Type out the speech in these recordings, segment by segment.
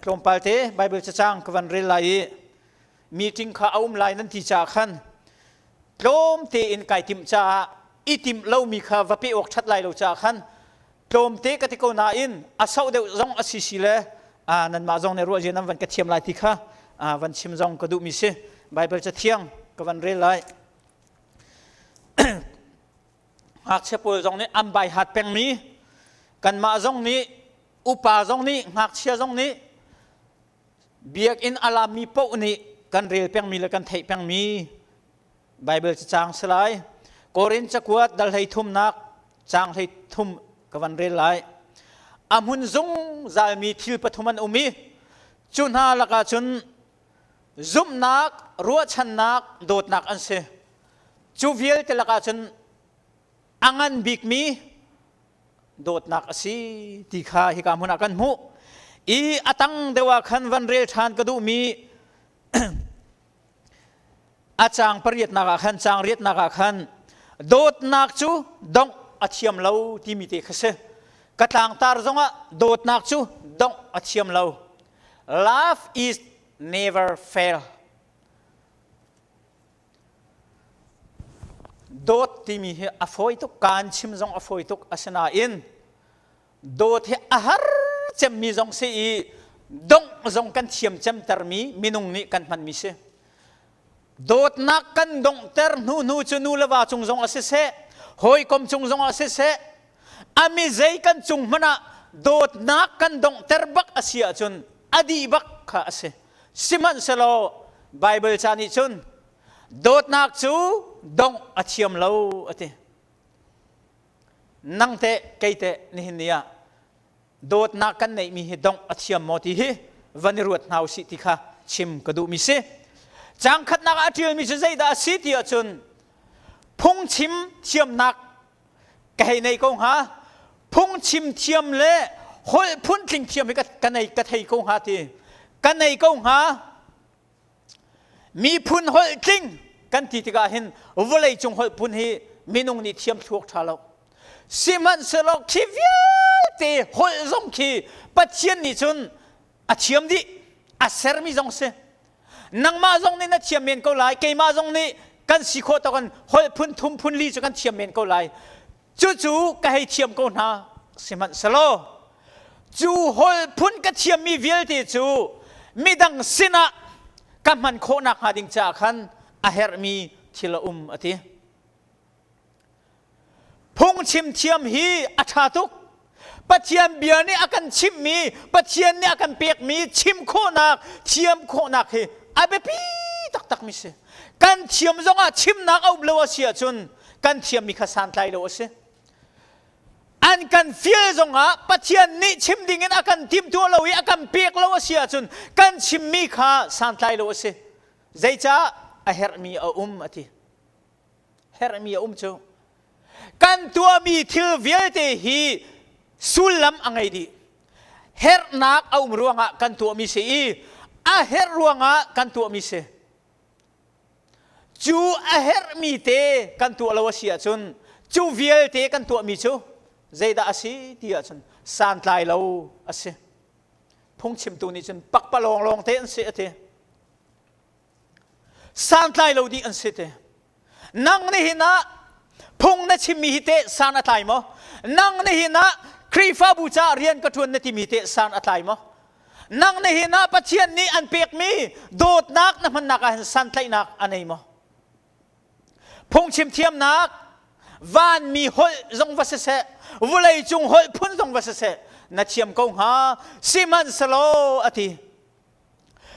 tlawmpal te Bible cacang ka van rel lai i meeting kha a um lai nan ti caah khan tlawm tein kai tim caah i tim lomi kha va pe awk ṭhat lai lo caah khan tlawmte ka ti ko nain a sau deuh zong a si si le nanmah zong nih ruah zian nan van ka thiam lai ti kha van chim zong ka duhmi si Baibal cathiang ka van rel lai ngakchia pawl zong nih an bai hat pengmi kanmah zong nih upa zong nih ngakchia zong nih biakinn a laammi paoh nih kan rel pengmi le kan theih pengmi Baibal cacaang si lai. Korin cakuat dal hlei thumnak caang hlei thum ka van rel lai. A hmun zungzalmi thil pathum an um i cu hna lakah cun zumhnak, ruahchannak, dawtnak an si. Cu vialte lakah cun a ngan bikmi dawtnak a si ti kha hika hmun ah kan hmuh. I a tang deuh ah khan van rel ṭhan ka duhmi a caang pariatnak ah khan caang riatnak ah khan dawtnak cu dongh a thiam lo timi te kha si ka tlangtar zongah dawtnak cu dongh a thiam lo love is never fail dawt timi hi a fawi tuk kaan chim zong a fawi tuk asinain dawt hi a har cemmi zong si i dongh zong kan thiam cemtermi minung nih kan hmanmi si dawtnak kan donghter hnu hnu cu nu le va cung zong ah siseh hawikom cung zong ah siseh a mi zei kan cung hmanh ah dawtnak kan donghter bak a si ahcun a dih bak kha a si sihmanhsehlaw Baibal ca nih cun dawtnak cu dongh a thiam lo a ti nang teh kei teh nihin ni ah dawtnak kan neihmi hi dongh a thiam maw ti hi van i ruat hna u sih ti kha chim ka duhmi si cangkhatnak ah a ṭialmi cu zeidah a si ti ahcun phungchim thiamnak ka hei nei ko hnga phungchim thiam le holh phun tling thiam hi ka, ka nei ka thei ko hnga ti ka nei ko hnga Miphun holh tling kan ti tikah hin vawleicung holh phun hi minung nih thiam thluak ṭha lo. Sihmanhsehlaw khi vialte holh zong khi Pathian nih cun a thiam dih, a sermi zong si. Nangmah zong nih na thiam men ko lai, keimah zong nih kan si khawh tawkin holh phun thum phun li cu kan thiam men ko lai. cucu ka hei thiam ko hna sihmanhselaw cu hol phun ka thiammi vialte cu midang sinah ka hman khawh nakhnga ding caah khan a herhmi thil a um a ti. Phungchim thiam hi a ṭha tuk. Pathian bia nih a kan chimhmi, Pathian nih a kan pekmi chim khawhnak, thiam khawhnak hi a biapi taktakmi si. Kan thiam zongah chimnak a up lo a si ahcun kan thiammi kha santlai lo a si. An kan fial zongah Pathian nih chim dingin a kan timtuah lo i a kan pek lo a si ahcun kan chimmi kha santlai lo a si. Zeicah a herhmi a um a ti. herhmi a um cu kan tuahmi thil vialte hi sullam a ngei dih herhnak a um ruangah kan tuahmi si i a herh ruangah kan tuahmi si cu a herhmi te kan tuah lo a si ahcun cu vialte kan tuahmi cu zeidah a si ti ahcun santlai lo a si phungchimtu nih cun pakpalawng lawng te an si a ti santlai lo dih an si te nang nihin ah phung na chimmi hi teh san a tlai maw nang nihin ah khrihfabu caah rian ka ṭuan na timi teh san a tlai maw nang nihin ah pathian nih an pekmi dawtnak na hmannak ah hin santlaihnak a nei maw phungchim thiamnak vanmi holh zong va siseh vulei cung holh phun zong va siseh na thiam ko hnga sihmanhselaw a ti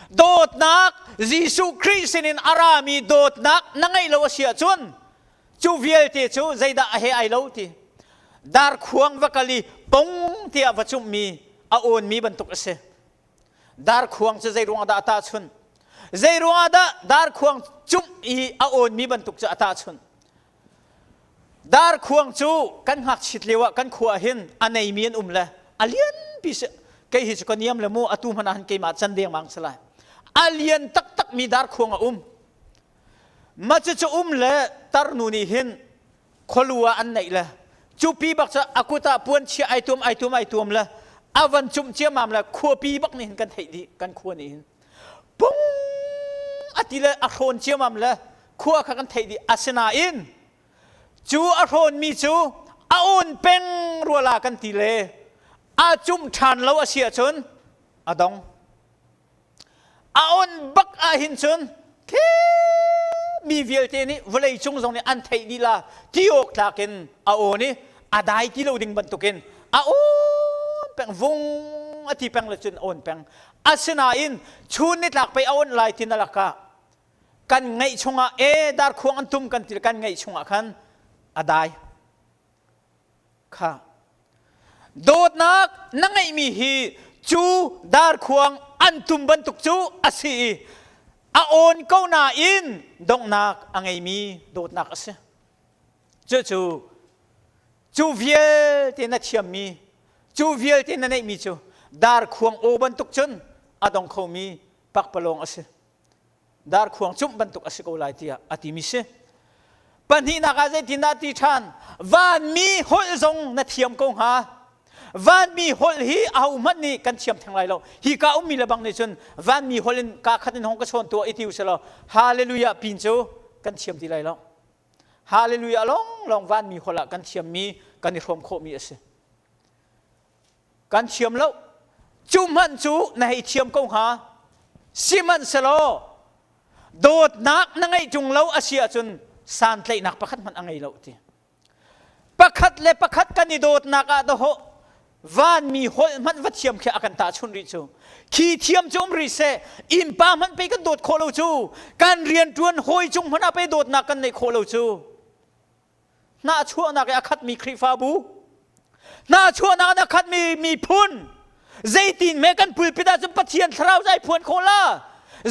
dawtnak Jesuh Khrih sinin a rami dawtnak na ngeih lo a si ahcun cu vialte cu zeidah a he ai lo ti darkhuang va kal i pong tiah va cumhmi a awnmi bantuk a si darkhuang cu zei ruangah dah a tahchunh zei ruangah dah darkhuang cumh i a awnmi bantuk cu a tahchunh Darkhuang cu kan ngakchit lio ah kan khua ah hin a neimi an um le a lianpi si kei hi cu ka niam le mu atu hmanh ah hin keimah can dengmang si lai a lian taktakmi darkhuang a um macucu um le tarnu nih hin khualu ah an neih le cupi bak cu a kut ah puan chiah ai tuam ai tuam ai tuam le a van cumh ciamam le khuapi bak nih hin kan theih dih kan khua nih hin pung a ti le a hrawn ciamam le khua kha kan theih dih asinain cu a hrawnmi cu a on peng ruala kan ti le a cum ṭhan lo a si ahcun a dong a on bak ahhin cun khi mi vialte nih vawlei cung zong nih an theih lila ti awk tlak in a on i a dai ti lo ding bantukin a on peng vung a ti peng le cun on peng Asinain chun nitlak pei a on lai ti na lakah kan ngeih chungah e dar khuang an tum kan ti kan ngeih chungah khan a dai kha dawtnak na ngeihmi hi cu dar khuang an tum bantuk cu a si i a on ko nain donghnak a ngeimi dawtnak a si cucu cu vialte na thiammi cu vialte na neihmi cu darkhuang aw bantuk cun a dong khomi pakpalawng a si darkhuang cumh bantuk a si ko lai tiah a timi si pahnihnak ah zeitindah ti ṭhan vanmi holh zong na thiam ko hnga vanmi holh hi ahohmanh nih kan thiam theng lai lo hi ka ummi le bang nih cun vanmi holh in ka khat in hong ka chawn tuah i ti u sih law hallelujah pin cu kan thiam ti lai lo Hallelujah lawnglawng vanmi holh ah kan thiammi kan i hrawm khawhmi a si. Kan thiam lo. Cu hmanh cu na hei thiam ko hnga. Sihmanhselaw dawtnak na ngeih ṭung lo a si ahcun santlaihnak pakhat hmanh a ngei lo ti. Pakhat le pakhat kan i dawtnak ah dawhawh vanmi holh hmanh va thiam khi a kan tahchun rih cu khi thiam cu um rih seh innpa hmanh pei kan dawt khawh lo cu kan rianṭuan hawi cung hmanh ah pei dawtnak kan neih khawh lo cu hnahchuahnak i a khatmi Khrihfabu hnahchuahnak in a khatmi miphun zeitin me kan pulpit ahcun Pathian thlarau cu ai phuan khawh la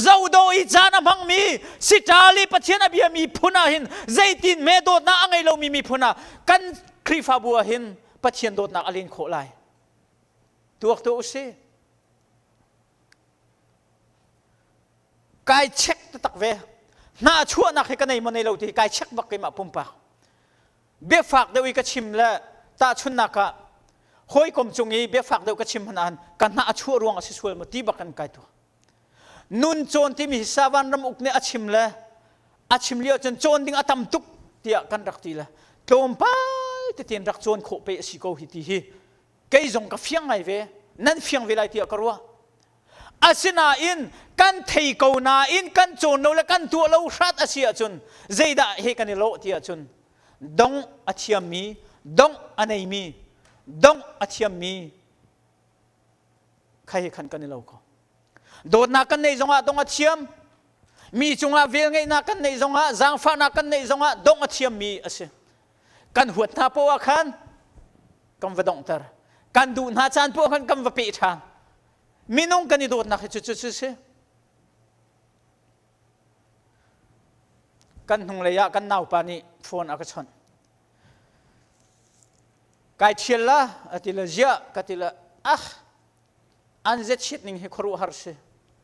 zodo i caan a hmangmi sitali Pathian a biami phun ah hin zeitin me dawtnak a ngei lomi miphun ah kan Khrihfabu ah hin Pathian dawtnak a len khawh lai. Tuak tuah u si. Kai check taktak ve. Hna chuahnak hi ka nei maw nei lo ti kai check bak keimah pumpak. Biafak deuh i ka chim le tahchunnak ah hawikom cung i biafak deuh ka chim hnahan ka hna a chuah ruang a si sual maw ti bak kan kai tu. nun cawn timi hi Savan ram uk nih a chim le a chim lio cun cawn ding a tam tuk tiah kan rak ti le tlawmpal tetin rak cawn khawh pe a si ko hi ti hi kei zong ka fiang ngai ve nan fiang ve lai tiah ka ruah asinain kan thei ko nain kan cawn lo le kan tuah lo hrat a si ahcun zeidah he kan i lawh ti ahcun dong a thiammi dongh a neimi dongh a thiammi Khai khan kan i lo ko. Dawtnak kan neih zongah dong a thiam. Mi cungah velngeihnak kan neih zongah, zaangfahnak kan neih zongah dong a thiammi a si. Kan huat hna poah khan kan va donghter. Kan duh hna caan poah khan kan va peh ṭhan. Minung kan i dawtnak hi cu cu si. Kan hnunglei ah kan naupa nih phone a ka chawnh. kai ṭhial la a ti le ziah ka ti le ah an zechit ning hi khuaruah har si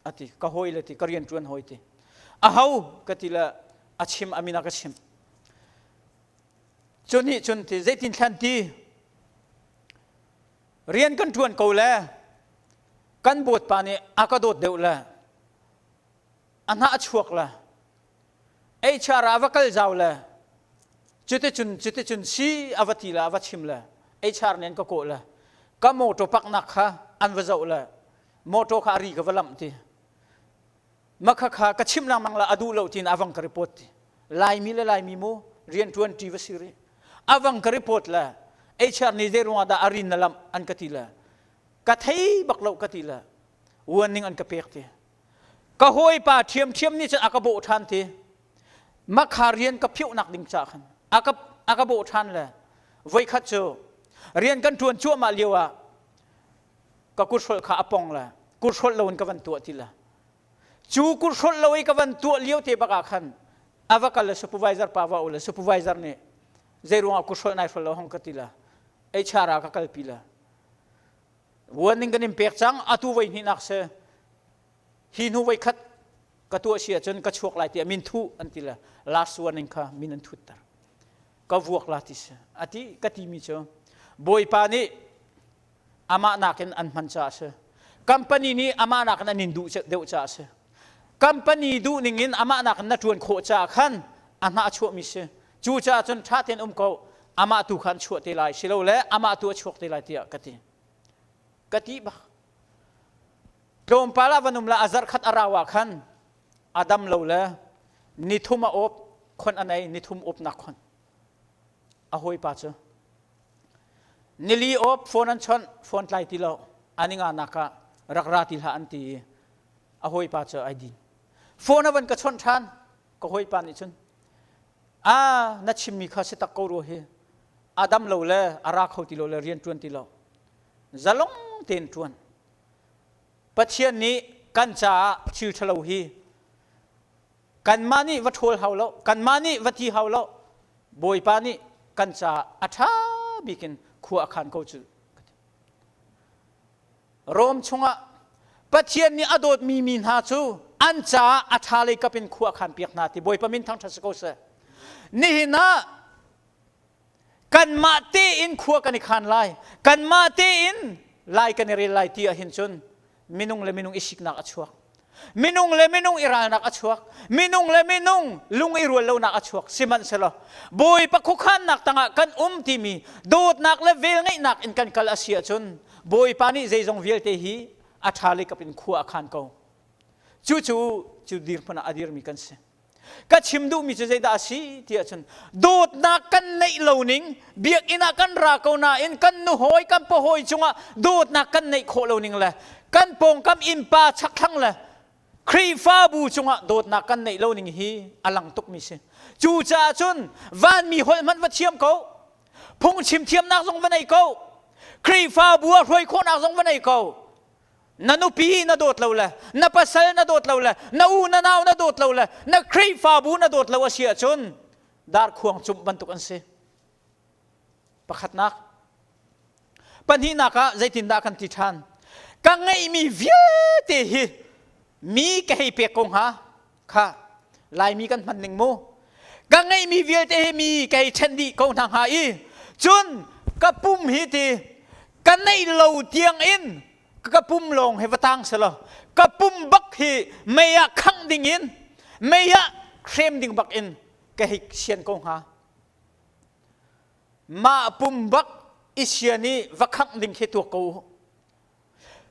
a ti ka hawi le ti ka rian ṭuan hawi ti a ho ka ti le a chim a min a ka chim cu nih cun ti zeitin thlan ti rian kan ṭuan ko le kan bawipa nih a ka dawt deuh le a hnah a chuak le HR ah va kal zau le cuticun cuticun si a va ti le a va chim le HR nih an ka kawh le ka motor paknak kha an va zoh le motor kha a ri ka va lamh ti makha kha ka chim lengmang la a duh lo tiin avang ka report ti laimi le laimi mu riantuanti va si rih avang ka report le HR nih zei ruangah dah a rin na lamh an ka ti le ka thei bak lo ka ti le warning an ka pek ti ka hawipa ṭhiamṭhiam nih cun a ka bawh ṭhan ti makha rian ka phiohnak ding ca khan a ka a ka bawh ṭhan le voikhat cu rian kan ṭuan cuahmah lio ah ka kuthrolh kha a pong le kuthrolh lo in ka van tuah ti le cu kuthrolh lo i ka van tuah lio te bak ah khan a va kal le supervisor pa va u le supervisor nih zei ruangah kuthrolh nai hrol lo hong ka ti le HR ah ka kalpi le vuan in kan in pek cang atu voi hnihnak si hi hnu voi khat ka tuah si ahcun ka chuak lai tiah min thuh an ti le last warning kha min an thutter ka vuak la ti si a ti ka timi cu bawipa nih amah nakin an hman caah si company nih amah nakin an in duh deuh caah si company duh ning in amah nakin na ṭuan khawh caah khan a hna a chuahmi si Cucaah cun ṭha tein um ko, amah tu kha an chuah te lai silole amah tu a chuak te lai tiah ka ti. Ka ti bak. Tlawmpal ah van um la a zarh khat a rau ah khan a dam lo le nithum a awp khon a nei nithum awpnak khon a hawipa cu nili awp phone an chawnh phone tlai ti lo aninga naka rak ra ti hlah an ti i a hawipa cu ai din phone a van ka chawnh ṭhan ka hawipa nih cun a na chimmi kha si tak ko rua hi a dam lo le a ra kho ti lo le rian ṭuan ti lo zalong tein ṭuan pathian nih kan caah thil ṭhalo hi kanmah nih va ṭhawl hau lo kanmah nih va ti hau lo bawipa nih kan caah a ṭha bik in khua a khan ko cu Rom chungah Pathian nih a dawtmi mi hna cu an caah a ṭha lei kap in khua khan piak hna ti Bawipa min thangṭhat si ko seh. Nihin ah kanmah tein khua kan i khan lai, kanmah tein lai kan i rel lai ti ahhin cun minung le minung i siknak a chuak. minung le minung i ralnak a chuak minung le minung lung i rual lonak a chuak sihmanhsehlaw bawipa khuakhannak tangah kan um timi dawtnak le velngeihnak in kan kal a si ahcun bawipa nih zeizong vialte hi a ṭha le kap in khua a khan ko cucu cu dirhmun ah a dirmi kan si ka chim duhmi cu zeidah a si ti ahcun dawtnak kan neih lo ning biakinn ah kan ra ko nain kan nu hawi kan pa hawi cungah dawtnak kan neih khawh lo ning le kan pawngkam innpa chakthlang le Khrihfabu cungah dawtnak kan neih lo ning hi a lang tukmi si cucaah cun vanmi holh hmanh va thiam ko phungchim thiamnak zong va nei ko Khrihfabu ah hruai khawhnak zong va nei ko na nupi na dawt lo le na pasal na dawt lo le na u na nau na dawt lo le na khrihfabu na dawt lo a si ahcun dar khuang cumh bantuk an si pakhatnak pahnihnak ah zeitindah kan ti ṭhan ka ngeihmi vialte hi mi ka hei pek ko hnga kha laimi kan hman ning mu ka ngeihmi vialte hi mi kei ṭhen dih ko hna hnga i cun ka pum hi ti ka neih lo tiangin ka pum lawng hi va tang selaw ka pum bak hi mei ah khangh ding in mei ah hrem ding bak in ka hik sian ko hnga mah pum bak i sian i va khangh ding khi tuak ko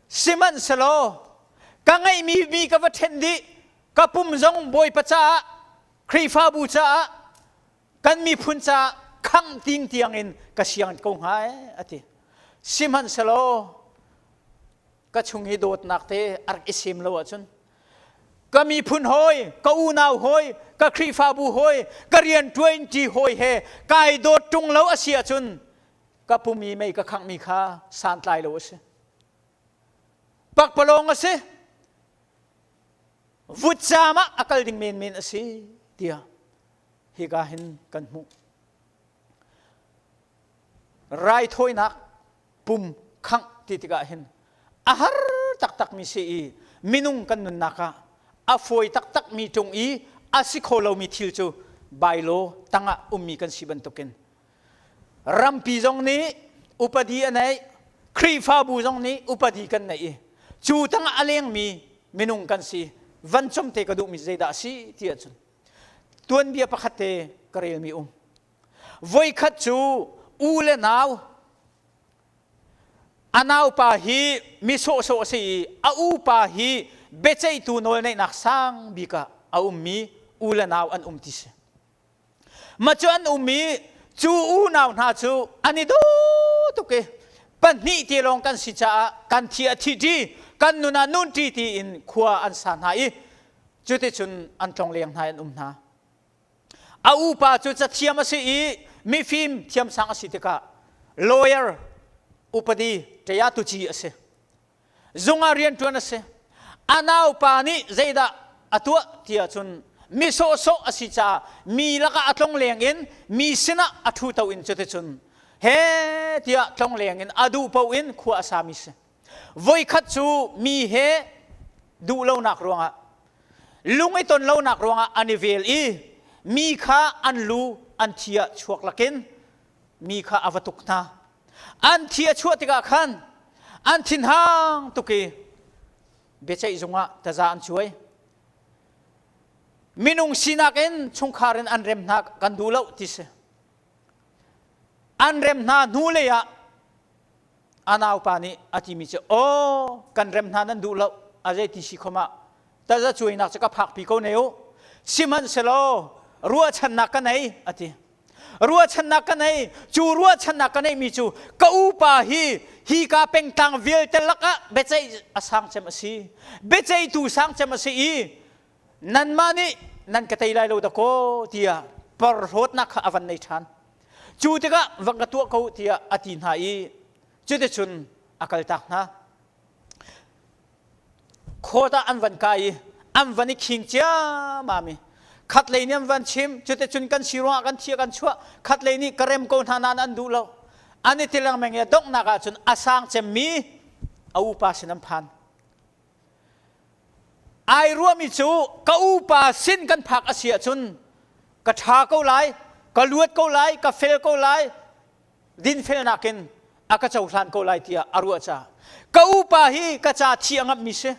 Sihmanhselaw ka ngeihmi mi ka va ṭhenh dih, ka pum zong Bawipa caah, Khrihfabu caah, kan miphun caah khang ting tiangin ka siang ko hnga e, a ti. Sihmanhselaw ka chung hi dawtnak te a rak i sem lo ahcun ka miphun hoi, ka unau hoi, ka Khrihfabu hoi, ka rianṭuanṭi hoi he kai dawt ṭung lo a si ahcun ka pumi mei ka khangh mi kha santlai lo a si pakpalawng a si vut caam ah a kal ding menmen a si tiah hika hin kan hmuh raithawinak pum khangh ti tikah hin a har taktak mi si i minung kan nunnak ah a fawi taktak mi tung i a si kho lomi thil cu bailo tangah ummi kan si bantukin Rampi zong nih upadi a neih, Khrihfabu zong nih upadi kan neih i cu tang ah a lengmi minung kan si. Vancung te ka duhmi zeidah a si ti ahcun tuanbia pakhat te ka relmi um. Voikhat cu u le nau a naupa hi mi sawhsawh a si i a upa hi biaceihtu nawl neihnak sang bik ah a ummi u le nau an um ti si. Mah cu an um i cu unau hna cu an i du tuk i pahnih te lawng kan si caah kan thi a thi ṭi kan nun ah nun ṭi tiin khua an sa hna i cuticun an tlongleng hna i an um hna. A upa cu cathiam a si i mifim thiamsang a si tikah lawyer upadi ṭaya tuci a si. zung ah rianṭuan a si a naupa nih zeidah a tuah ti ahcun mi sawhsawh a si caah mi lakah a tlongleng in mi sinah a ṭhuto in cuticun he tiah tlongleng in a duh paoh in khua a sami si voikhat cu mi he duh lonak ruangah lung i ton lonak ruangah an i vel i mi kha an lu an thi ah chuak lakin mi kha a va tuk hna an thi a chuah tikah khan an thinhang tuk i biaceih zungah taza an cuai minung sinak in chungkhar in an rem hna kan duh lo ti si an rem hna hnu lei ah a naupa nih a timi cu aw kan rem hna nan duh lo a zei ti si khom ah taza cuainak cu ka phak pi ko ne u sihmanhselaw ruahchannak ka nei a ti ruahchannak ka nei cu ruahchannak ka neihmi cu ka upa hi hi ka pengtlang vialte lakah biaceih a sang cem a si biaceihtu sang cem a si i nanmah nih nan ka tei lai lo dakaw tiah parhlawtnak kha a van nei ṭhan cu tikah van ka tuah ko tiah a ti hna i cuticun a kaltak hna Khawt ah an van kai i an van i khing ciammam i khatlei nih an van chim cuticun kan si ruangah kan thi kan chuah khatlei nih ka rem ko hna nain an duh lo an i ti lengmang i a donghnak ahcun a sang cemmi a upa sin an phan ai ruahmi cu ka upa sin kan phak a si ahcun ka ṭha ko lai ka luat ko lai ka fel ko lai dinfelnak in a ka cohlan ko lai tiah a ruah caah ka upa hi ka ca thi a ngamhmi si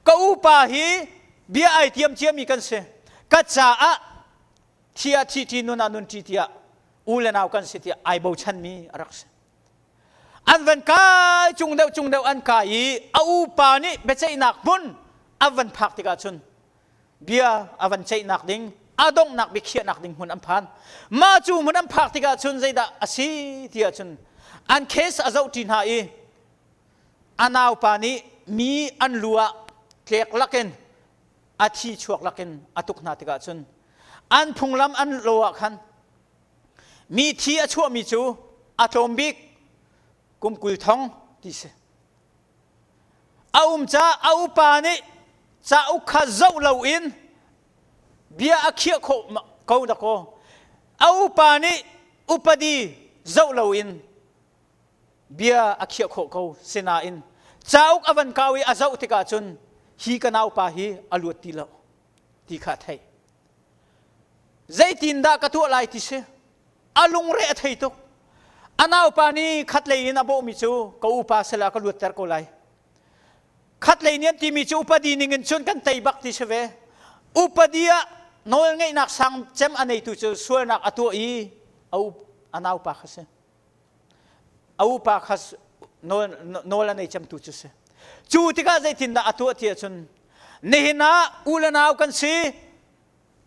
ka upa hi bia ai tiam ciami kan si ka caah thi ah thi ṭi nun ah nun ṭi tiah u le nau kan si tiah ai bochanmi a rak si an van kai cung deuh cung deuh an kai i a upa nih biaceihnak hmun an van phak tikah cun bia a van ceihnak ding a donghnak biakhiahnak ding hmun an phan mah cu hmun an phak tikah cun zeidah a si tiah cun an case a zohṭi hna i a naupa nih mi an lu ah tlek lakin a thi chuak lakin a tuk hna tikah cun an phunglam an lo ah khan mi thi a chuahmi cu a tlawm bik kum kul thong ti si A um caah a upa nih cauk kha zoh loin bia a khiah khawh ko dakaw. A upa nih upadi zoh loin bia a khiah khawh ko. Sinain cauk a van kau i a zoh tikah cun hi ka naupa hi a luat ti lo ti kha a theih. Zeitindah ka tuah lai ti si? a lungre a thei tuk. A naupa nih khatlei in a bawhmi cu ka upa salah ka luatter ko lai. Khatlei nih an timi cu upadi ning in cun kan tei bak ti si ve. Upadi ah nawl ngeihnak sang cem a neitu cu sualnak a tuah i a, up, a naupa kha si. A upa kha nawl, nawl a nei cemtu cu si. Cu tikah zeitindah a tuah ti ahcun, nihin ah u le nau kan si,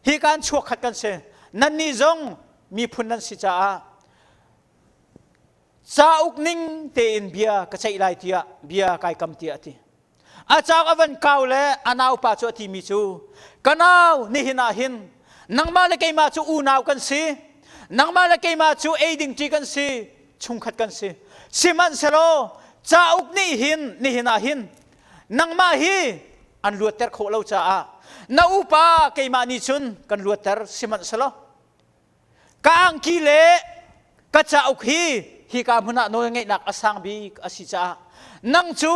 hi kan chuakkhat kan si nannih zong miphun nan si caah cauk ning tein bia ka ceih lai tiah bia kai kam tiah a ti a cauk a van kau le a naupa cu a timi cu ka nau nihin ah hin nangmah le keimah cu unau kan si nangmah le keimah cu ei ding ṭi kan si chungkhat kan si sihmanhsehlaw cauk nih hin nihin ah hin nangmah hi an luatter khawh lo caah na upa keimah nih cun kan luatter sihmanhselaw ka angki le ka cauk hi hika hmun ah nawlngeihnak a sang bik a si caah nang cu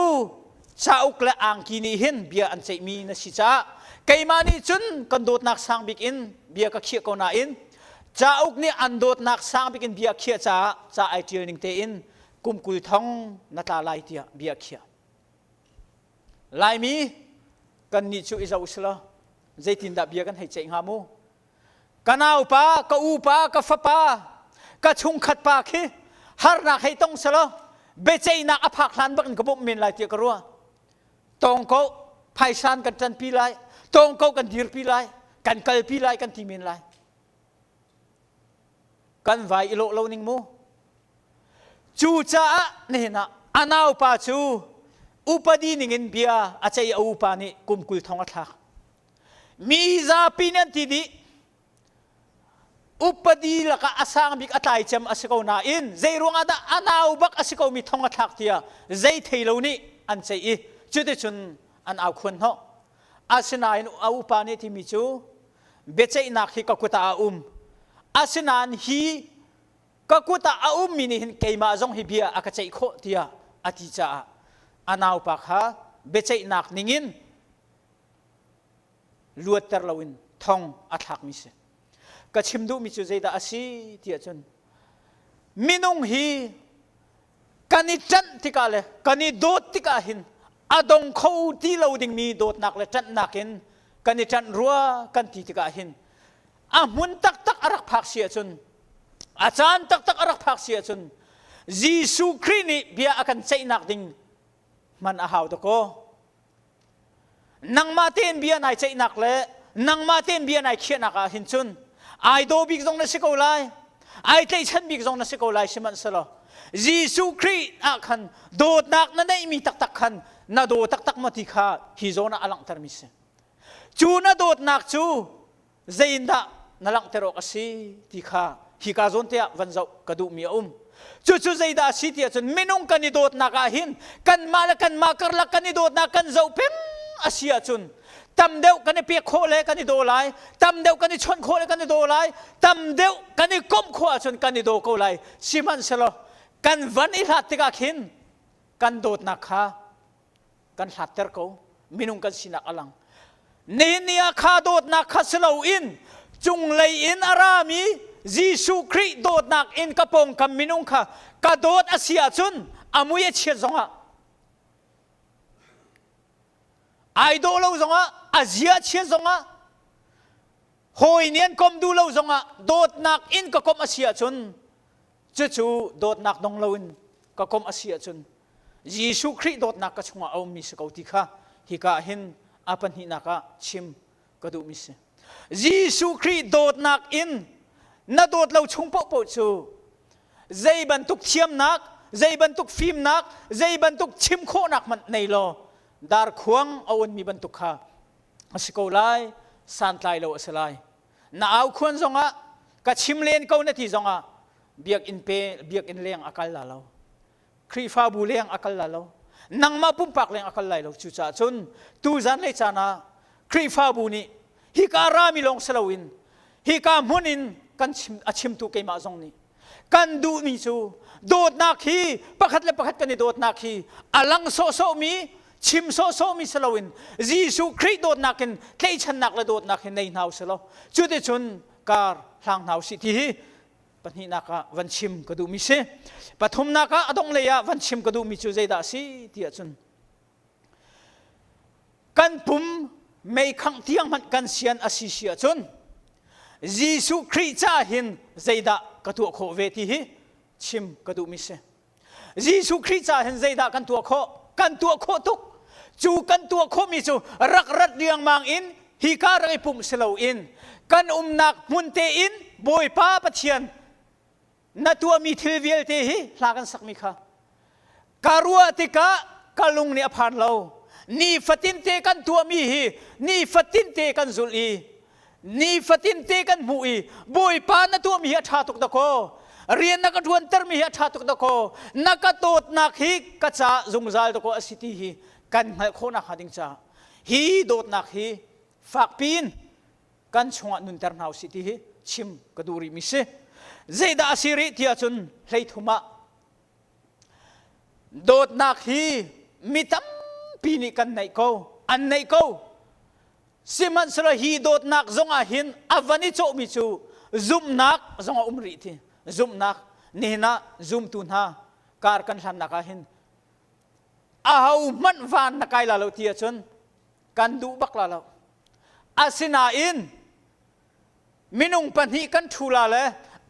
cauk le angki nih hin bia an ceihmi na si caah keimah nih cun kan dawtnak sang bik in bia ka khiah ko nain cauk nih an dawtnak sang bik in bia khiah caah ca ai ṭial ning tein kum kul thong na tla lai tiah bia khiah. Laimi kannih cu i zoh selaw zeitindah bia kan hei ceih hnga mu? Ka naupa, ka upa, ka fapa, ka chungkhat pa khi harnak hei tong selaw biaceihnak a phak hlan bak in ka bawmh men lai tiah ka ruah. Tawngko phaisan kan ṭanpi lai, tawngko kan dirpi lai, kan kalpi lai kan ti men lai. kan vai i lawh lo ning mu cucaah hnenah a naupa cu upadi ningin bia a ceih a upa nih kum kul thong a thlak mi zapi nih an ti dih upadi lakah a sang bik a tlai cem a si ko nain zei ruangah dah a nau bak a si ko mi thong a thlak tiah zei thei lo nih an ceih i cuticun an au khuan hnawh asinain a upa nih a timi cu biaceihnak hi ka kut ah a um asinain hi ka kut ah a ummi nih hin keimah zong hi bia a ka ceih khawh tiah a ti caah a naupa kha biaceihnak ningin luatter loin thong a thlakmi si ka chim duhmi cu zeidah a si tiah cun minung hi kan i ṭanh tikah le kan i dawt tikah hin a dong kho ti lo dingmi dawtnak le ṭanhnak in kan i ṭanh rua kan ti tikah hin a hmun taktak a rak phak si ahcun a caan taktak a rak phak si ahcun Jesuh Khrih nih bia a kan ceihnak ding hman a hau dakaw. nangmah tein bia nai ceihnak le nangmah tein bia nai khiahnak ah hin cun ai daw bik zong na si ko lai ai tlaihchan bik zong na si ko lai sihmanhselaw Jesuh Khrih ah khan dawtnak na neihmi taktak khan na daw taktak maw ti kha hi zawn ah a langhtermi si cu na dawtnak cu Zeitindah na langhter awk a si ti kha hika zawn te ah van zoh ka duhmi a um. Cucu zeidah a si ti ahcun minung kan i dawtnak ah hin kanmah le kanmah karlak kan i dawtnak kan zoh peng a si ahcun tam deuh kan i pek khawh le kan i daw lai, tam deuh kan i chawnh khawh le kan i daw lai, tam deuh kan i komh khawh ahcun kan i daw ko lai. Sihmanhsehlaw kan van i hlat tikah khin kan dawtnak kha kan hlatter ko minung kan sinak a lang Nehniah kha dawtnak kha si loin cunglei in a rami Jesuh Khrih dawtnak in ka pawngkam minung kha ka dawt a si ahcun a mui a chiat zongah ai daw lo zongah a zia chiat zongah hawi nian kom duh lo zongah dawtnak in ka kom a si ahcun cucu dawtnak dong loin ka kom a si ahcun Jesuh Khrih dawtnak ka chungah a ummi si ko ti kha hika ah hin a pahnihnak ah chim ka duhmi si. Jesuh Khrih dawtnak in na dawt lo chung paohpaoh cu zei bantuk thiamnak, zei bantuk fimnak, zei bantuk chim khawhnak hmanh nei law darkhuang a unmi bantuk kha a si ko lai, santlai lo a si lai. Na au khuan zongah, ka chim len ko na ti zongah biakinn pe biakinn leng a kal la lo. Khrihfabu leng a kal lai lo. Nangmah pumpak leng a kal lai lo. Cucaah cun tu zanlei caan ah Khrihfabu nih hika rami lawng si loin hika hmun in kan chim, a chimtu keimah zong nih kan duhmi cu dawtnak hi pakhat le pakhat kan i dawtnak hi a lang sawhsawhmi chim sawhsawhmi si loin Jesuh Khrih dawtnak in tlaihchannak le dawtnak hi nei hna u sih law cuticun kar hlang hna u sih ti hi pahnihnak ah van chim ka duhmi si pathumnak ah a dong lei ah van chim ka duhmi cu zeidah a si ti ahcun kan pum meikhangh tiang hmanh kan sian a si si ahcun Jesuh Khrih ca hin zeidah ka tuah khawh ve ti hi chim ka duhmi si Jesuh Khrih ca hin zeidah kan tuah khawh? Kan tuah khawh tuk. Cu kan tuah khawhmi cu rak rat riangmang in hika rak i pumh si loin kan umnak hmunte in Bawipa Pathian na tuahmi thil vialte hi hla kan sakmi kha ka ruah tikah ka lung nih a phan lo. Nifatinte kan tuahmi hi nifatinte kan zulh i nifatin te kan hmuh i bawipa na tuahmi hi a ṭha tuk dakaw rian na ka ṭuantermi hi a ṭha tuk dakaw na ka dawtnak hi ka ca zungzal dakaw a si ti hi kan hngalh khawhnak hnga ding caah hi dawtnak hi fakpi in kan chungah nunter hna usih ti hi chim ka duh rihmi si zeidah a si rih ti ahcun hleithum ah dawtnak hi mi tampi nih kan neih ko an neih ko Sihmanhsehlaw hi dawtnak zongah hin a van i cawhmi cu zumhnak zongah um rih ti zumhnak nihin ah zumtu hna kar kan hlannak ah hin ahohmanh van na kai la lo ti ahcun kan duh bak la lo asinain minung pahnih kan ṭhu la le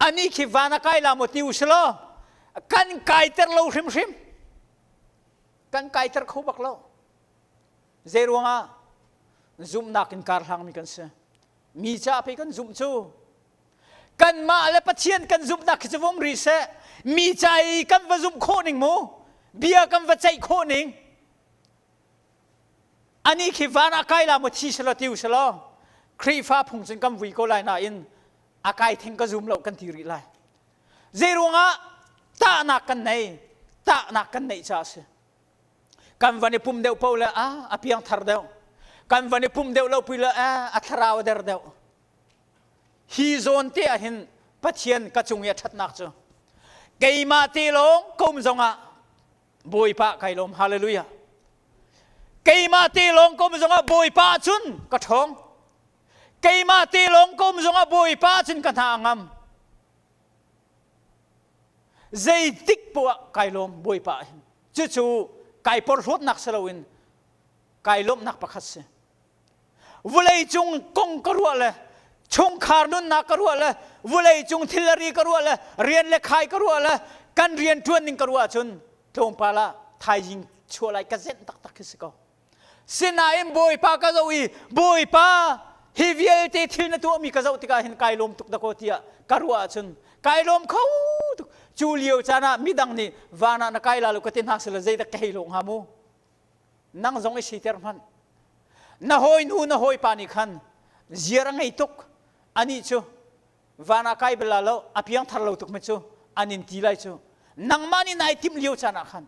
anih khi van a kai la maw ti u si law kan kaiter lo hrimhrim kan kaiter kho bak lo Zeiruangah? Zumhnak in karhlangmi kan si. Mi caah pei kan zumh cu kanmah le Pathian kan zumhnak khi cu vung ri seh. Mi ca i kan va zumh khawh ning mu, bia kan va ceih khawh ning. Ani khi van ah kai la mu thi selaw tiu selaw Khrihfa phung cun kan vui ko lai nain a kai theng ka zum lo kan ti rih lai. Zeiruangah tahnak kan nei, tahnak kan neih caah a si. kan van i pum deuh paoh le ah a piangthar deuh kan van i pum deuh lo pi le ah a thlarau a der deuh hi zawn te ah hin pathian ka cung i a ṭhatnak cu keimah te lawng kum zongah bawipa kai lawm hallelujah keimah te lawng kum zongah bawipa cun ka ṭhawng keimah te lawng kum zongah bawipa cun ka hna a ngam Zeitik poah kai lawm Bawipa hin. Cucu kai porhlawtnak si loin kai lawmhnak pakhat si. Vulei cung kong ka ruah le chungkhar nunnak ka ruah le vulei cung thilari ka ruah le rian le khai ka ruah le kan rian ṭuan ning ka ruah ahcun tlawmpal ah thaizing chuah lai ka zenh taktak khi si ko. Sinain Bawipa ka zoh i Bawipa hi vialte thil na tuahmi ka zoh tikah hin kai lawm tuk dakaw tiah ka ruah ahcun kai lawm kho tuk. Cu lio caan ah midang nih van ah na kai la lo ka ti hna sila zeidak ka hei lawng hnga mu. Nang zong i siter hmanh. Na hawinu na hawipa nih khan ziar a ngei tuk. Anih cu van ah kai bal la lo a piangthar lo tuk me cu an in ti lai cu nangmah nih nai timh lio caan ah khan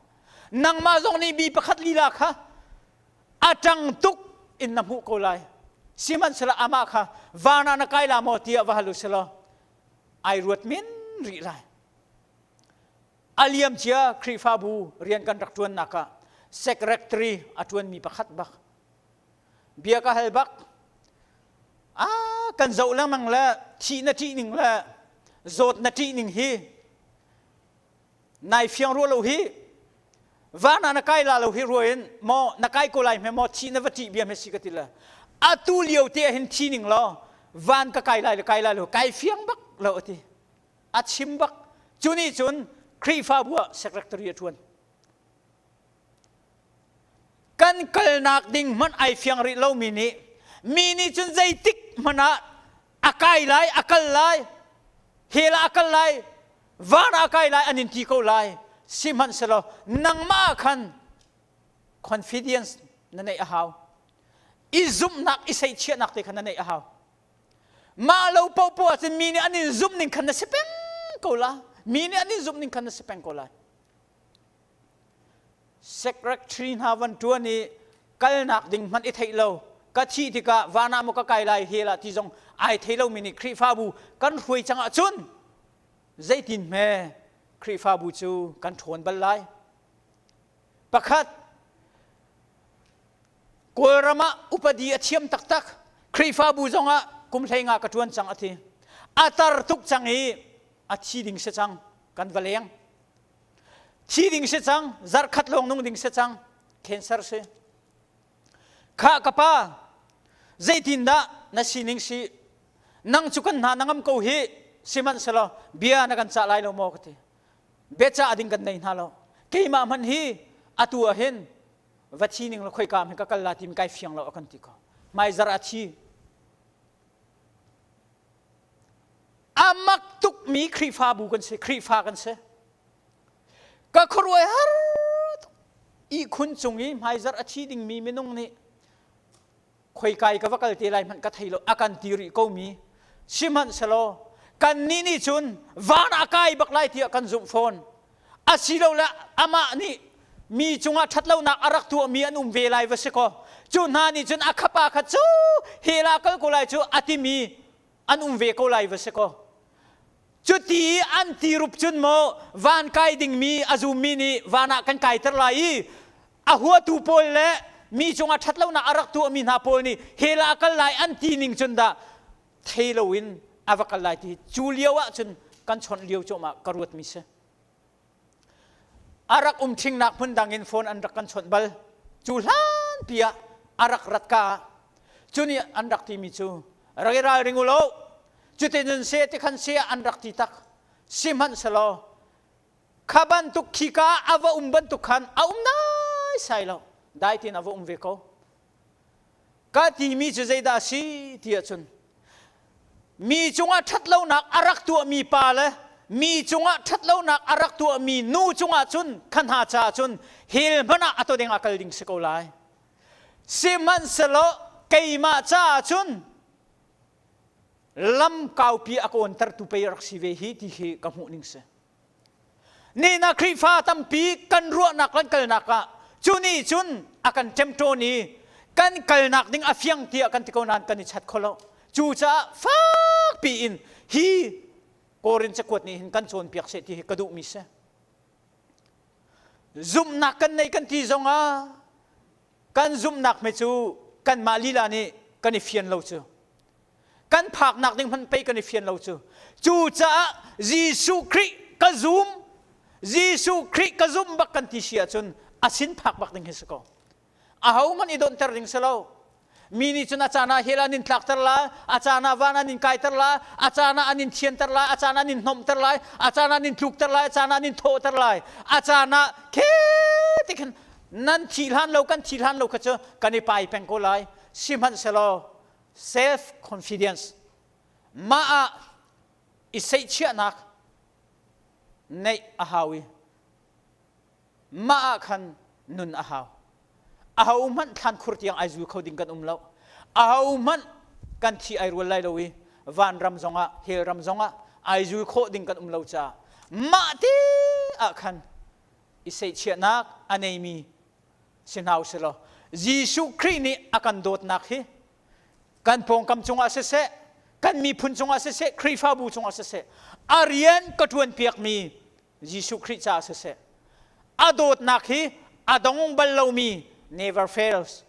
nangmah zong nih bi pakhat lila kha a ṭang tuk in na hmuh ko lai sihmanhsehlaw amah kha van ah na kai la maw tiah va hal u selaw ai ruat min rih lai aliam cia Khrihfabu rian kan rak ṭuannak ah secretary a ṭuanmi pakhat bak bia ka hal bak a kan zoh lengmang le thih na ṭih ning le zawt na ṭih ning hi nai fiang rua lo hi van ah na kai la lo hi rua in maw na kai ko lai hme maw thi na va ṭih bia hme si ka ti le atu lio te ah hin thi ning law van ka kai lai le kai lai lo kai fiang bak lo a ti a chim bak cu nih cun Khrihfabu ah secretary a ṭuan kan kalnak ding hmanh ai fiang rih lomi nih mi nih cun zeitik hmanh ah a kai lai a kal lai hel ah a kal lai van ah a kai lai an in ti ko lai sihmanhsehlaw nangmah khan confidence na neih a hau i zumhnak i seihchiahnak te khan na neih a hau mah lo popo ah cun mi nih an in zumh ning khan na si peng ko la mi nih an in zumh ning khan na si peng ko lai Secretary hna van ṭuan i kalnak ding hmanh i theih lo ka thih tikah van ah maw ka kai lai hel ah ti zong ai thei lomi nih Khrihfabu kan hruai cang ahcun zeitin hme Khrihfabu cu kan ṭhawn bal lai. Pakhat, Kawlram ah upadi a thiam taktak. Khrihfabu zongah kum hleinga ka ṭuan cang a ti. A tar tuk cang i a thi ding si cang kan va leng thi ding si cang zarkhat lawng nung ding si cang cancer si kha ka pa zeitindah na sining si nang cu kan hna na ngam ko hi sihmanhselaw bia na kan cah lai lo maw ka ti beca ding kan nei hna lo keimah hman hi atu ah hin va thi ning la khoi ka mi ka kal la tim kai fiang lo kan ti ko mai zar a thi a mak tukmi Khrihfabu kan si Khrihfa kan si ka khuaruai har ihkhun cung i hmaizarh a thi dingmi minung nih khoikai ka va kal te lai hmanh ka thei lo a kan ti rih komi sihmanhselaw kannih nih cun van a kai bak lai tiah kan zumh fawn asilole amah nih mi cungah ṭhatlonak a rak tuahmi an um ve lai va si kaw cu hna nih cun a khapa kha cu hela kal ko lai cu a timi an um ve ko lai va si kaw cuti i an ti rup cun maw van kai dingmi a zummi nih van ah kan kaiter lai i a huatu pawl le mi cungah ṭhat lonak a rak tuahmi hna pawl nih hela a kal lai an ti ning cun dah thei loin a va kal lai ti cu lio ah cun kan chawnh lio cuahmah ka ruatmi si a rak um thingnak hmun dang in phone an rak kan chawnh bal cu hlanpi ah a rak rat ka cu nih an rak timi cu rak i ralring u law cutinun se ti khan se an rak ti tak sihmanhselaw kha bantuk khika a va um bantuk khan a um naisai lo dai tin a va um ve ko Ka timi cu zeidah a si ti ahcun mi cungah ṭhatlonak a rak tuahmi pa le mi cungah ṭhatlonak a rak tuahmi nu cungah cun kha hna caah cun hell hmanh ah a to ding ah kal ding si ko lai. Sihmanhsehlaw keimah caah cun lam kaupi a kawntertu pei rak si ve hi ti khi ka hmuh ning si. Nihnak Khrihfa tampi kan ruahnak kan kalnak ah cu nih cun a kan ṭemṭawn i kan kalnak ding a fiang tiah kan ti ko nain kan i chat kho lo. Cucaah fak piin hi Korin cakuat nih hin kan cawnpiak seh ti hi ka duhmi si. Zumhnak kan nei kan ti zongah kan zumhnak me cu kanmah lila nih kan i fian lo cu. kan phaknak ding hmanh pei kan i fian lo cu cucaah Jesuh Khrih ka zum Jesuh Khrih ka zumh bak kan ti si ahcun a sin phak bak ding hi si ko ahohmanh i donhter ding si lo mi nih cun a caan ah hell an in tlakter lai a caan ah van an in kaiter lai a caan ah an in thianter lai a caan ah an in hnawmter lai a caan ah an in tlukter lai a caan ah an in thawhter lai a caan ah khe ti khin nan thi hlan lo kan thi hlan lo kha cu kan i pai peng ko lai sihmanhsehlaw self-confidence, mah ah i seihchiahnak neih a hau i mah ah khan nun a hau. Aho hmanh thlan khur tiang ai zul kho ding kan um lo. Aho hmanh kan thi ai rual lai lo i vanram zongah hell ram zongah ai zul khawh ding kan um lo caah mah ti ah khan i seihchiahnak a neimi si hna usihlaw Jesuh Khrih nih a kan dawtnak hi kan pawngkam cungah siseh kan miphun cungah siseh Khrihfabu cungah siseh a rian ka ṭuan piakmi Jesuh Khrih caah siseh a dawtnak hi a dong bal lomi never fails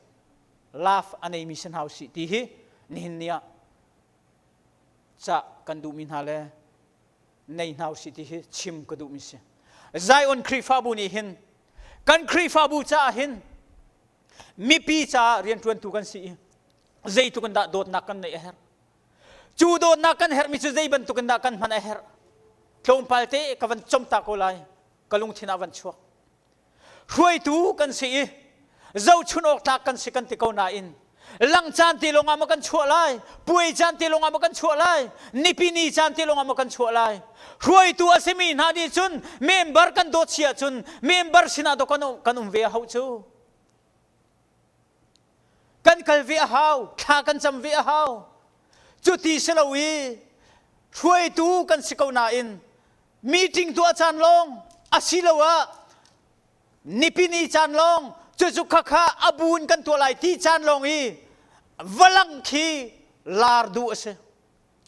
love a neimi si hna usih ti hi nihin ni ah cah kan duhmi hna le nei hna usih ti hi chim ka duhmi si zion khrihfabu nih hin kan khrihfabu caah hin mipi caah rianṭuantu kan si i zeituk in dah dawtnak kan neih a herh cu dawtnak kan herhmi cu zei bantuk in dah kan hman a herh tlawmpal te ka van comta ko lai ka lungthin ah van chuak hruaitu kan si i zohchunh awk tlak kan si kan ti ko nain lang caan te lawngah maw kan chuah lai puai caan te lawngah maw kan chuah lai nipi ni caan te lawngah maw kan chuah lai hruaitu a simi hna nih cun member kan dawt si ahcun member sinah daw kan um, kan um ve a hau cu kan kal ve a hau thla kan cam ve a hau cuti si lo i hruaitu kan si ko nain meeting tuah caan lawng asiloah nipini caan lawng cucu khakha a bu in kan tuah lai ti caan lawng hi valang khi lar du a si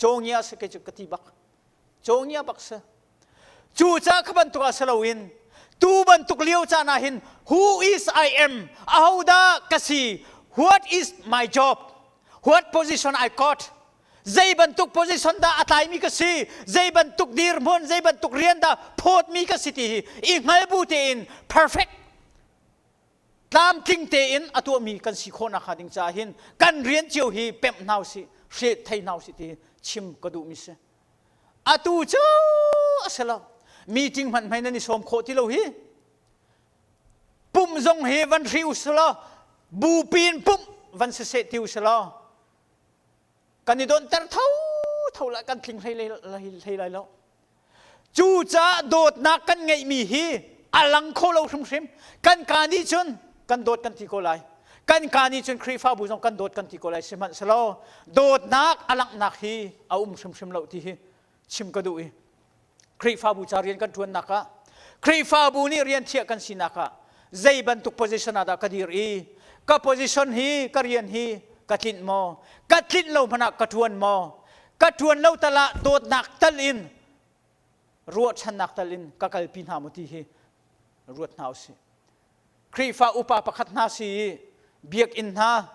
cawngia si ke cu ka ti bak cawngia bak si cu ca ka bantuk ah si loin tu bantuk lio caan ah hin who is I am ahodah ka si what is my job what position I got zei bantuk position dah a tlaimi ka si zei bantuk dirhmun zei bantuk rian dah phawtmi ka si ti hi i hngal bu tein perfect tlamtling tein a tuahmi kan si khawh nakhnga ding caah hin kan rian cio hi pemh hna si hre thei hna si ti chim ka duhmi si atu cu a si lo meeting hman hmai nan i sawm khawh ti lo hi pum zong hi van hri usih law bupi in pumh van si seh ti usih law kan i donter thotho lah kan tling hlei, hlei, hlei lai lo cucaah dawtnak kan ngeihmi hi a lang kho lo hrimhrim kan ka nih cun kan dawt kan ti ko lai kan ka nih cun Khrihfabu zong kan dawt kan ti ko lai sihmanhselaw dawtnak a langhnak hi a um hrimhrim lo ti hi chim ka duh i Khrihfabu ca rian kan ṭuannak ah Khrihfabu nih rian thiah kan sinak ah zei bantuk position ah dah ka dir i ka position hi ka rian hi ka tlinh maw ka tlinh lo hmanh ah ka ṭuan maw ka ṭuan lo tal ah dawtnak tal in ruahchannak tal in ka kalpi hna mu ti hi ruat hna usih Khrihfa upa pakhat hna si i biakinn hna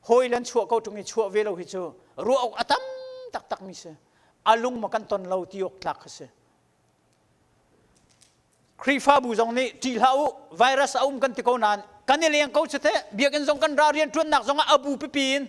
hawi le chuah ko ṭung i chuah ve lo hi cu ruah awk a tam taktakmi si. A lung ma kan ton lo ti awk tlak kha si. Khrihfabu zong nih ṭih hlah u, virus a um kan ti ko nain kan i leng ko cu teh biakinn zong kan ra rian ṭuannak zong ah a bu pipi in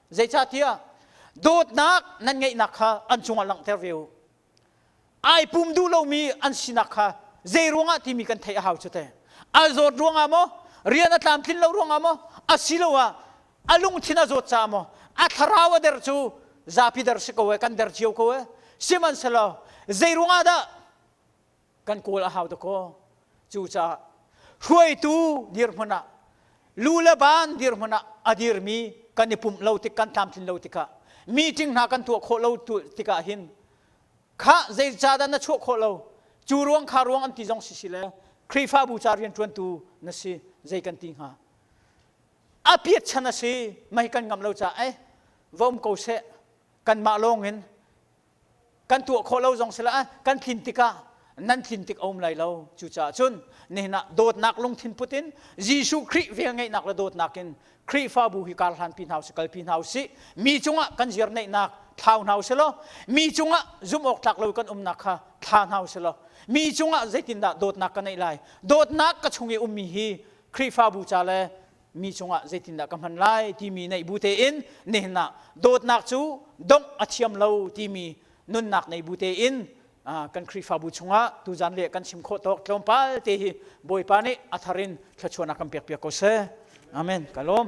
Zeicahtiah dawtnak nan ngeihnak kha an cungah langhter ve u. Ai pum duh lomi an sinak kha zei ruangah timi kan theih a hau cu te. Al zawt ruangah maw, rian a tlamtlin lo ruangah maw, asiloah a lungthin a zawt caah maw, a thlarau a der cu zapi der si ko e, kan der cio ko e. Sihmanhsehlaw zei ruangah dah kan kawl a hau dakaw cucaah hruaitu dirhmun ah lu le ban dirhmun ah a dirmi kan i pumh lo tik kan tlamtlin lo tikah meeting hna kan tuah khawh lo tikah hin khah zei ca dah na chuah khawh lo cu ruang kha ruang an ti zong si si le Khrihfabu ca rianṭuantu na si zei kan ti hnga a piat chan a si mei kan ngam lo caah eh vom ko seh kanmah lawng in kan tuah khawh lo zong si lah kan tlin tikah nan tlin tik a um lai lo cucaah cun nihin ah dawtnak lungthin put in Jesuh Khrih velngeihnak le dawtnak in Khrihfabu hi kar hlan pi hna usih kal pi hna usih mi cungah kan zirneihnak thlau hna usih law mi cungah zumhawktlak lo kan umnak kha thla hna usih law mi cungah zeitindah dawtnak ka neih lai dawtnak ka chung i ummi hi Khrihfabu ca le mi cungah zeitindah ka hman lai timi neih bu tein nehnak dawtnak cu dongh a thiam lo timi nunnak nei bu tein kan Khrihfabu chungah tuzan le kan chim khawh tawk tlawmpal te hi Bawipa nih a thar in thluachuahnak kan pekpiak ko seh. Amen. Ka lawm.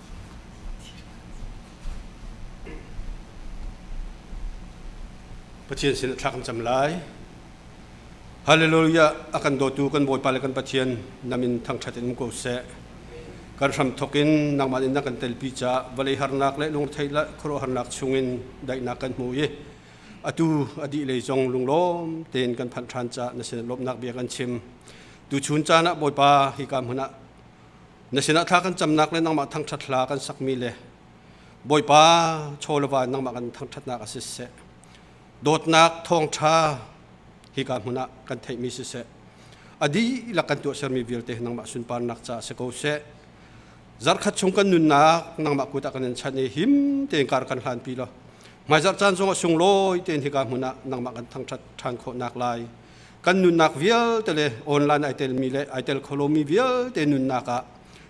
Pathian sin a thla kan cam lai. Hallelujah a kan dawtu kan Bawipa le kan Pathian namin thangṭhat in um ko seh. Kan hram thawk in nangmah in na kan telpi ca vawlei harnak le lungthei le khuaruahharnak chungin daihnak kan hmu i atu a dih lei zong lunglawm tein kan phanh ṭhan ca na sinah lawmhnak bia kan chim. Tuchun caan ah Bawipa hika hmun ah Na sinah thla kan camnak le nangmah thangṭhat hla kan sakmi le Bawipa chaw le va nangmah kan thangṭhatnak ah siseh dawtnak thawngṭha hika hmun ah kan theihmi siseh a dihlak kan tuah sermi vialte nangmah sunparnak caah si ko seh zarkhat chung kan nunnak nangmah kut ah kan in chanh i him tein kar kan hlanpi law hmaizarh caan zongah sunglawi tein hika hmun ah nangmah kan thangṭhat ṭhan khawhnak lai kan nunnak vialte le online ai telmi le ai tel kholomi vialte nunnak ah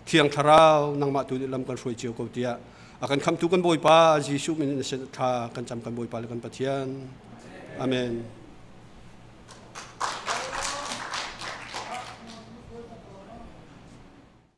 thiang thlarau nangmah tu lam kan hruai cio ko tiah a kan khamtu kan bawipa Jesuh min tha kan cam kan bawipa le kan pathian amen